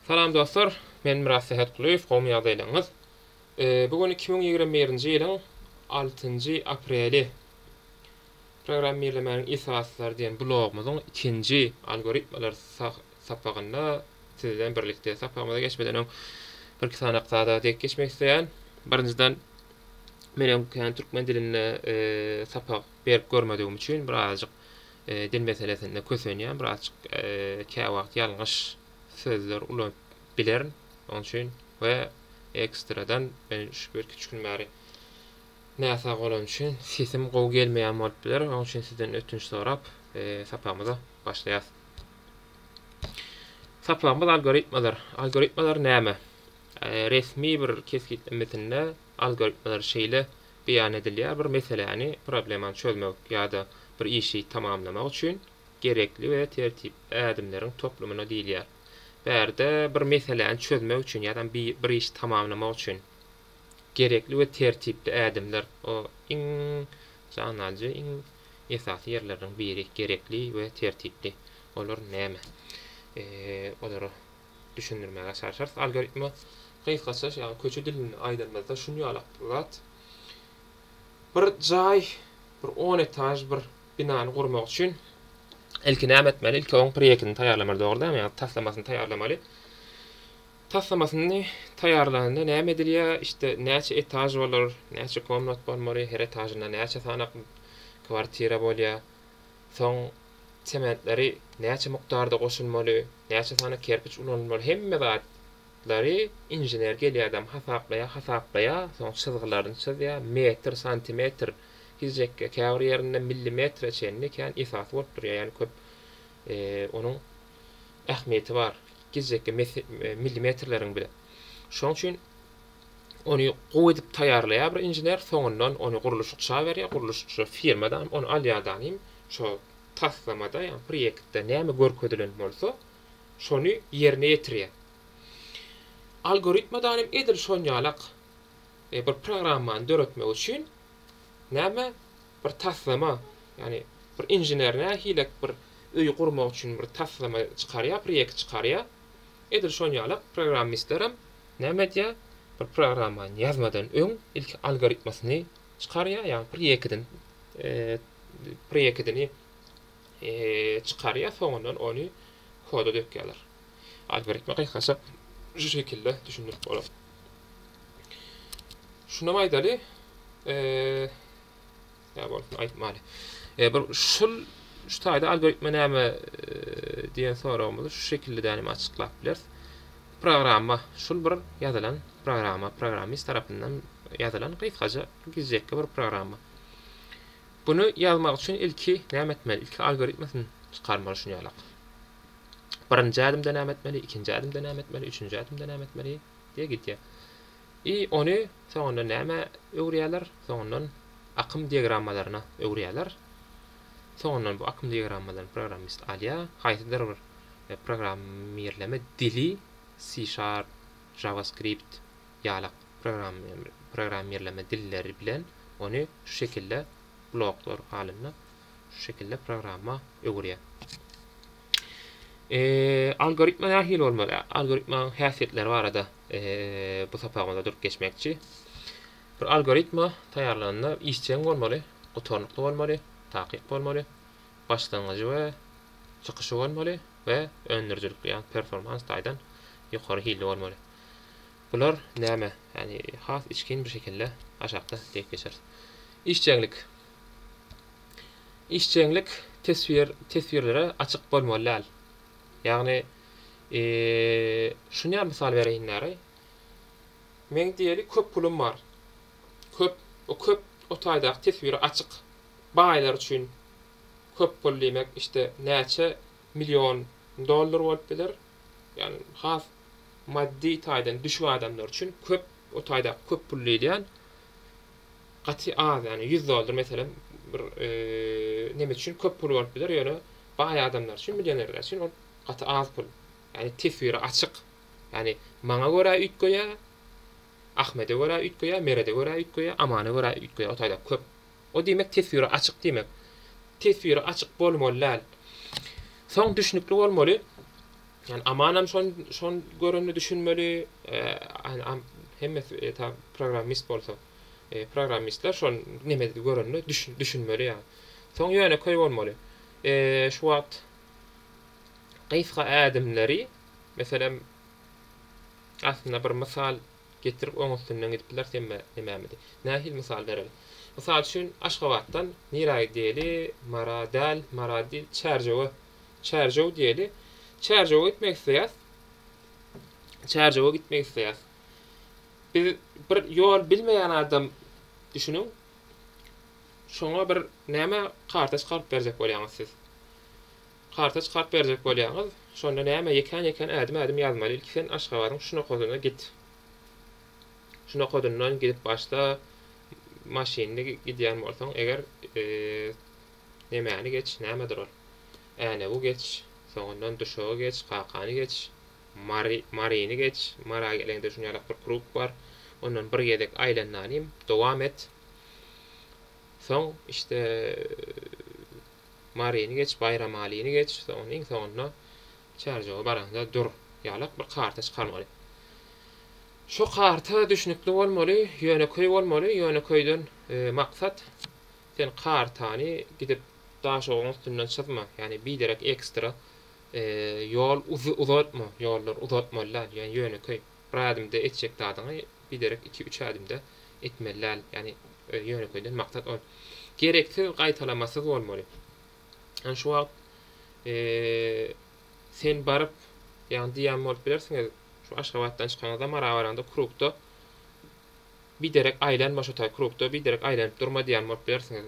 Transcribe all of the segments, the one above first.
Salam dostlar, men Myrat Sähetgulyýew, gowy my ýagdaýlaryňyz? Bu gün iki müň ýigrimi birinji ýylyň altynjy apreli. Programmirlemäniň esaslary diýen blogumyzyň ikinji algoritmalar sapagynda siz bilen birlikde. Sapagymyza geçmeden öň birki sanak zada dek geçmek isleýän. Birinjiden men öňkän türkmen dilinde sapak berip görmedigim üçin birazajyk Dil meselesinde kösenýän birazjyk käwagt ýalňyş sözler ulanyp bilerin. Oň üçin we ekstradan men şu birki üç gün bäri näsag bolan üçin sesim gowy gelmeýän bolup biler. Oň üçin sizden ötünç sorap sapagymyza başlaýas. Sapagymyz algoritmalar. Algoritmalar näme? Resmi bir kesgitlemesinde algoritmalar şeýle beýan edilýär, bir meseläni, problemany çözmek ýa-da bir işi tamamlamak üçin gerekli we tertip ädimleriň toplumyna diýilýär. Bärde bir meseläni çözmek üçin ýa-da bi bir işi tamamlamak üçin gerekli we tertipli ädimler, o iň jan alyjy, iň esasy ýerleriniň biri, gerekli we tertipli. Olar näme? Olara düşündirmäge çalşarys. Algoritme gysgaça ýagny köçe dilinde aýdanymyzda şuny ýalak bir zat. Bir jaý, bir on etaž bir binany gurmak üçin ilki näme etmeli? Ilki oň proýektini taýýarlamaly, dogry dämi? Ýagny taslamasyny taýýarlamaly. Taslamasyny taýýarlanda näme edilýär? Işte näçe etaž bolar, näçe komnat bolmaly, her etažynda näçe sany kwartira bolýar? Soň sementleri näçe mukdarda goşulmaly, näçe sany kerpiç ulanylmaly hemme zatlary inžener gelýädem hasaplaýar, hasaplaýar, soň çyzgylaryny çyzýar, metr, santimetr, hižekge, käbir ýerinde millimetre çenli kän esasy bolup durýar, ýagny köp onuň ähmiýeti bar, hižekge, millimetrleriň bile. Şoň üçin Ony gowy edip taýýarlaýar bir inžener, soňundan ony gurluşykça berýär, gurluşykçy firmadanam ony alýardanam şo taslamada, ýagny proýektde näme görkezilen bolsa, şony ýerine ýetirýär. Algoritmadanam edil şonýalak, bir programmany döretmek üçin näme bir taslama, ýagny bir inžener nähilek bir öýi gurmak üçin bir taslama çykarýar, proýekt çykarýar. Edil şon ýala programmistlerem näme edýär? Bir programmany ýazmadan öň ilki algoritmasyny çykarýar, ýagny proýekidin proýekidini çykarýar, soňundan ony koda dökýärler. Algoritma gysgaça şu şekilde düşündirip bolar. Şunam aýdaly, eee Sag bolsun aýtmaly. E, bir şul şu taýda algoritme näme diýen soragymyzy şu şekilde dänem açyklap bileris. Programma şul bir ýazylan programma, programmist tarapyndan ýazylan gysgaja gizjekki bir programma. Bunu ýazmak üçin ilki näme etmeli? Ilki algoritmesini çykarmaly şuny ýalak. Birinji ädimde näme etmeli? Ikinji ädimde näme etmeli? Üçünji ädimde näme etmeli? diýe gitýär. I ony soňundan nämä öwürýärler? Soňundan akym diagrammalaryna öwürýärler. Soňundan bu akym diagrammalaryny programmist alýar. Haýsydyr bir programmirleme dili, C-Sharp, JavaScript ýalak programmirleme dilleri bilen ony şu şekilde bloklar halynda şu şekilde programma öwürýär. I algoritma nähili bolmaly? Algoritmanyň häsiýetleri barada. Bu sapagymyzda durup geçmekçi. Bir algoritma taýýarlanda işjeň bolmaly, gutarnykly bolmaly, takyk bolmaly, başlangyjy we çykyşy bolmaly we öndürijilikli ýa performans taýdan ýokary hilli bolmaly. Bular näme? Ýani has içgin bir şekilde aşakda diýip geçeris. Işjeňlik. Işjeňlik teswir teswirlere açyk bolmaly däl. Ýagny, şuny-a mysal bereýinler-aý. Meň diýeli köp pulum bar. Köp, o köp o taýdaky teswiri açyk. Baýlar üçin köp pul diýmek, işte, näçe million dollar bolup biler. Ýagny, has maddy taýdan düşük adamlar üçin köp, o taýdaky köp pul diýilýän gaty az ýagny ýüz dollar meselem bir neme üçin köp pul bolup biler ýöne baý adamlar üçin millionerler üçin ol gaty az pul ýagny teswiri açyk ýagny maňa görä üýtgeýä ahmede görä üýtgeýä merede görä üýtgeýä amana görä üýtgeýä o taýda köp o diýmek teswiri açyk diýmek teswiri açyk bolmaly däl soň düşnükli bolmaly Ýani Amanam şon şon görende düşünmeli hemmesi eta programmist bolsa programmistler şon nemedi görende düşün düşünmeli ýa. Soň ýönekeý bolmaly. Şu wagt gysga ädimleri meselem aslynda bir mysal getirip oň üstünden gidip biler semme nememidi. Nähili mysal bereli. Mysal üçin Aşgabatdan nirä gideli Mara däl Mara dil Çärjewe Çärjew diýeli. Çärjewe gitmek isleýäs. Çärjewe gitmek isleýäs. Biz bir ýol bilmeýän adam düşüniň. Şoňa bir näme karta çykaryp berjek bolýaňyz siz. Karta çykaryp berjek bolýaňyz. Şonda näme ýekän-ýekän ädim-ädim ýazmaly. Ilki sen Aşgabadyň şunakasyna git. Şunakadyndan gidip başla. Maşynly gidýän bolsaň eger Nemäni geç, nämedir ol? Änewi geç, soňundan duşagy geç, kakany geç, Mary, Maryny geç, Mara geleňde şunýalak bir kruk bar, ondan bir gezek aýlan nanim, dowam et. Soň, işte, Maryny geç, Baýramalyny geç, soňundan, iň soňunda Çärjewe baraňda dur, ýalak bir karta çykarmaly. Şo karta düşnükli bolmaly, ýönekeý bolmaly, ýönekeýden maksat Sen kartany gidip daşoguň üstünden çyzma, ýagny biderek ekstra ýol uzatma, ýollary uzatmaly däl, ýagny ýönekeý, bir ädimde etjek zadyňy biderek iki-üç ädimde etmeli däl, ýagny ýönekeýden maksat ol gereksiz gaýtalamasyz bolmaly. Ýagny şu wagt sen baryp, ýagny diýýän bolup bilersiňiz, şu Aşgabatdan çykanyňyzda Marabaraňda krugda, Biderek aýlanma şo taý krugda, biderek aýlanyp durma diýen bolup bilersiňiz.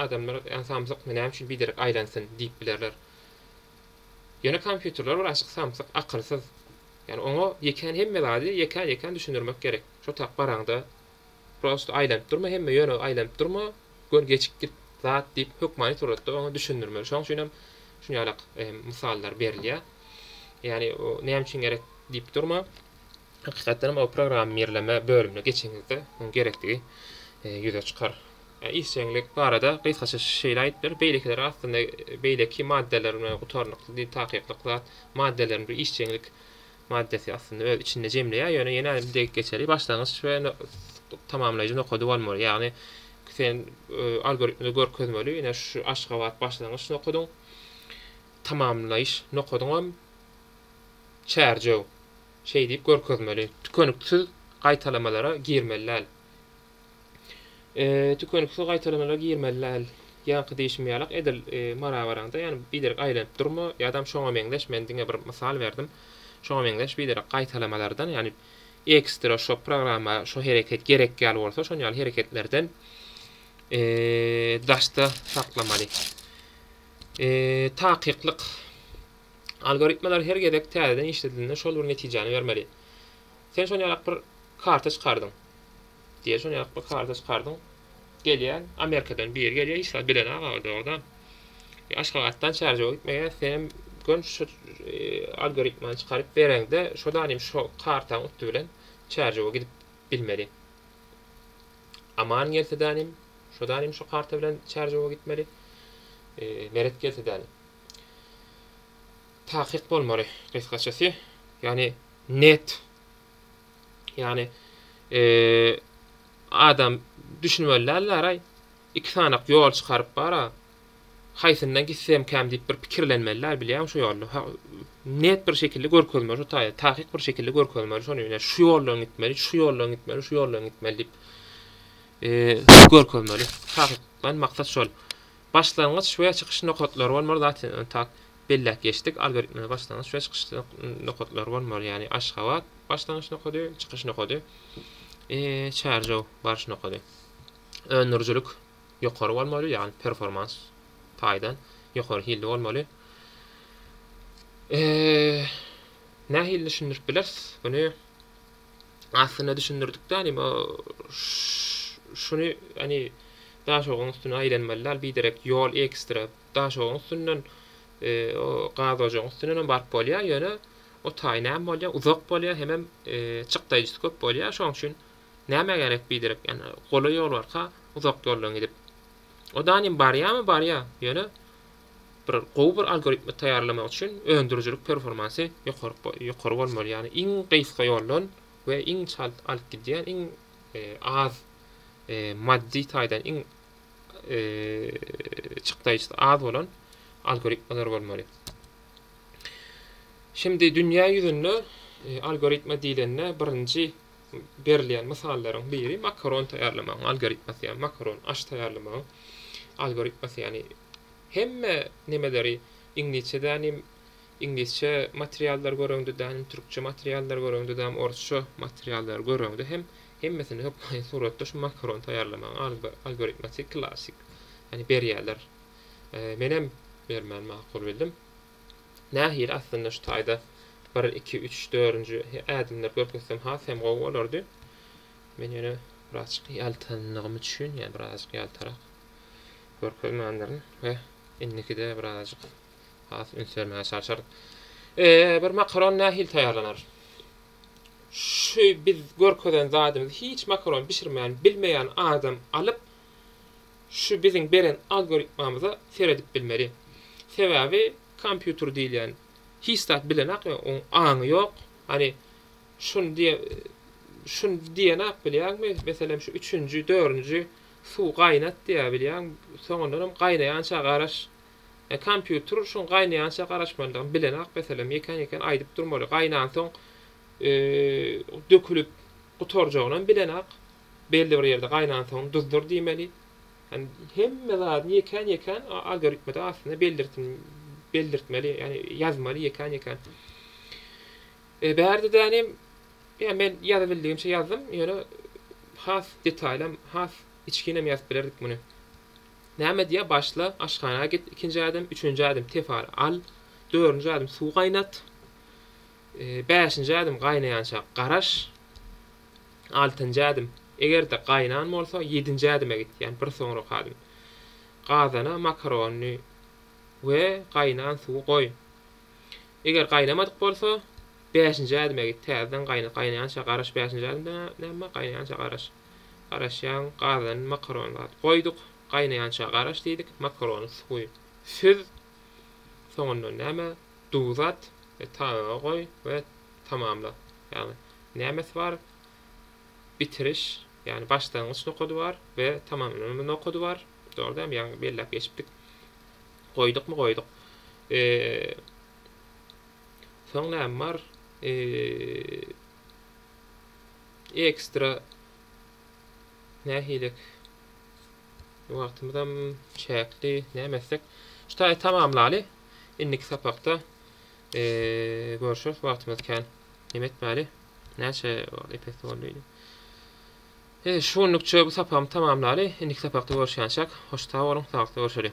Adamlar, ýa samsykmy, näme üçin biderek aýlansyn diýip bilerler. Ýöne kompýuterler bir açyk samsyk, akylsyz. Ýani oňa ýekän hemme zady ýekän-ýekän düşündirmek gerek. Şo tak baraňda, prosto aýlanyp durma, hemme ýöne aýlanyp durma, gör gecikdik zat diýip hökmany suratda oňa düşündirmeli. Şoň üçin hem şunýalak mysallar berilýär. Ýani näme üçin gerek diýip durma. Hakykatdan hem o programmirleme bölümine geçeniňizde muň gerekdigi ýüze çykar. Işjeňlik barada gysgaça şeýle aýdyp bileris, beýlekiler aslynda beýleki maddalar bilen gutarnykly takyklyk zat, maddalaryň bir işjeňlik maddasy aslynda öz içinde jemleýär, ýöne ýene-de bir degip geçeli, başlangyç we tamamlaýjy nokady bolmaly, ýagny sen algoritmde görkezmeli, ine şu Aşgabat başlangyç nokadyň, tamamlaýyş nokadyňam Çärjew. Şeý diýip görkezmeli. Tükeniksiz gaýtalamalara girmeli däl. E, tükeniksiz gaýtalamalara girmeli däl. Ýaňky diýşim ýalak edil e, marabaraňda, ýagny biderek aýlanyp durma, ýadam şoňa meňzeş, men diňe bir mysal berdim. Şoňa meňzeş biderek gaýtalamalardan, ýagny ekstra şo programma şo hereket gerek ýaly bolsa, şon ýaly hereketlerden e, daşda saklamaly. E, takyklyk Algoritmalar her gezek täzeden işledilende şol bir netijäni bermeli. Sen şon ýalak bir karta çykardyň. Diýeli şon ýalak bir karta çykardyň. Gelýän Amerikadan biri gelýär, hiç zat bilen aga dogda. E, Aşgabatdan Çärjewe gitmege sen gön şu e, algoritmany çykaryp bereňde şo danym şo kartaň utdy bilen Çärjewe gidip bilmeli. Aman gelse danym şo danym şo karta bilen Çärjewe gitmeli. E, meret gelse danym. Takyk bolmaly, gysgaçasy, ýagny net, ýagny adam düşünmeli dälläraý, iki sanak ýol çykaryp bara, haýsyndan gitsemkäm diýip bir pikirlenmeli däl bilýäň şu ýolda, net bir şekilde görkezmeli şu taýda, takyk bir şekilde görkezmeli şony, ine şu ýoldan gitmeli, şu ýoldan gitmeli, şu ýoldan gitmeli diýip görkezmeli, takykdan maksat şol. Başlangyç we çykyş nokatlary bolmaly zat ony tak belläp geçdik algoritmde başlangyç we çykyş nokatlary bolmaly ýagny Aşgabat başlangyç nokady çykyş nokady Çärjew baryş nokady öndürijilik ýokary bolmaly ýagny performans taýdan ýokary hilli bolmaly nähili düşündirip bileris muny. Aslynda düşündirdikde ony şuny ony daşoguň üstüne aýlanmaly dal biderek ýol ekstra daşoguň üstünden o gaz ojagyň üstünden hem baryp bolýar ýöne o taý näme bolýar uzak bolýar hemem çykdaýjysy köp bolýar şoň üçin näme gerek biderek ýa golaý ýol barka uzak ýoldan gidip o dany barýamy barýar ýöne Bir gowy bir algoritmi taýýarlamak üçin öndürijilik performansy ýokary ýokary bolmaly. Ýagny iň gysga ýoldan we iň çalt alyp gidýän iň az maddy taýdan iň çykdaýjysy az bolan algoritmalar bolmaly. Şimdi dünýä ýüzünde algoritma diýlende birinji Berilýän mysallaryň biri makaron taýýarlamagyň algoritmasy, ýagny makaron aş taýýarlamagyň algoritmasy, ýagny hemme nemeleri iňlisçe dänim, iňlisçe materiallar göreňde dänim, türkçe materiallar göreňde dänim, orsça materiallar göreňde hem hemmesini hökmaýyn suratda şu makaron taýýarlamagyň algoritmasy klassyk, ýagny berýärler. Menem bermäni makul bildim. Nähili aslynda şu taýda bir iki üç dörünji ädimleri görkezsem has hem gowy bolardy. Men ýöne birazjyk ýaltandygym üçin, ýa birazjyk ýaltarak görkezmändirin we indikide birazjyk has üns bermäge çalşaryn. Eee, bir makaron nähili taýýarlanar? Şu biz görkezen zadymyzy hiç makaron bişirmän bilmeýän adam alyp, şu biziň beren algoritmamyza seredip bilmeli. Sebäbi kompýuter diýilýän hiç zat bilenak ýa oň aňy ýok. Hany şuny diýe şuny diýenak bilýäňmi meselem şu üçünji dörünji suw gaýnat diýýä bilýäň soňundanam gaýnaýança garaş. E kompýuter şuň gaýnaýança garaşmalydygyny bilenak meselem ýekän ýekän aýdyp durmaly gaýnansoň e dökülip gutarjagynam bilenak. Belli bir ýerde gaýnansoň duzdyr diýmeli. Ýani hemme zadyny ýekän-ýekän algoritmada aslynda beldirtmeli, beldirtmeli, ýani ýazmaly ýekän-ýekän. E, bärde däni ýa men ýazybildigimçe ýazdym, ýöne has detaýlam, has içginem ýazyp bilerdik muny. Näme diýýär, başla, aşhana git, ikinji ädim, üçünji ädim, tefal al, dördünji ädim, suw gaýnat, e, bäşinji ädim, gaýnaýança garaş, Altynjy ädim, Eger-de gaýnan bolsa, ýedinji ädime git, ýagny bir soňraky ädim. Gazana makarony we gaýnan suwy goý. Eger gaýnamadyk bolsa, bäşinji ädime git, täzeden gaýnat. Gaýnaýança garaş, bäşinji ädimde näme? Gaýnaýança garaş. Garaşýaň, gazany makarony zat goýduk, gaýnaýança garaş diýdik, makarony suwy süz, soňundan näme? Duz at we taýaga goý we tamamla ýagny nämesi bar bitiriş ýagny başlangyç nokady bar we tamamlanma nokady bar dogry däl mi ýagny belläp geçipdik goýdukmy goýduk soň näme bar ekstra nähilek wagtymyzam çäkli näme etsek şu taýy tamamlaly indiki sapakda Görüşeris wagtymyz kän. Neme etmeli? Näçe epis boldy? He, şu günlükçe bu sapagymyzy tamamlaly. Indiki sapakda görüşýänçäk. Hoş sag boluň, sagatda görüşeli.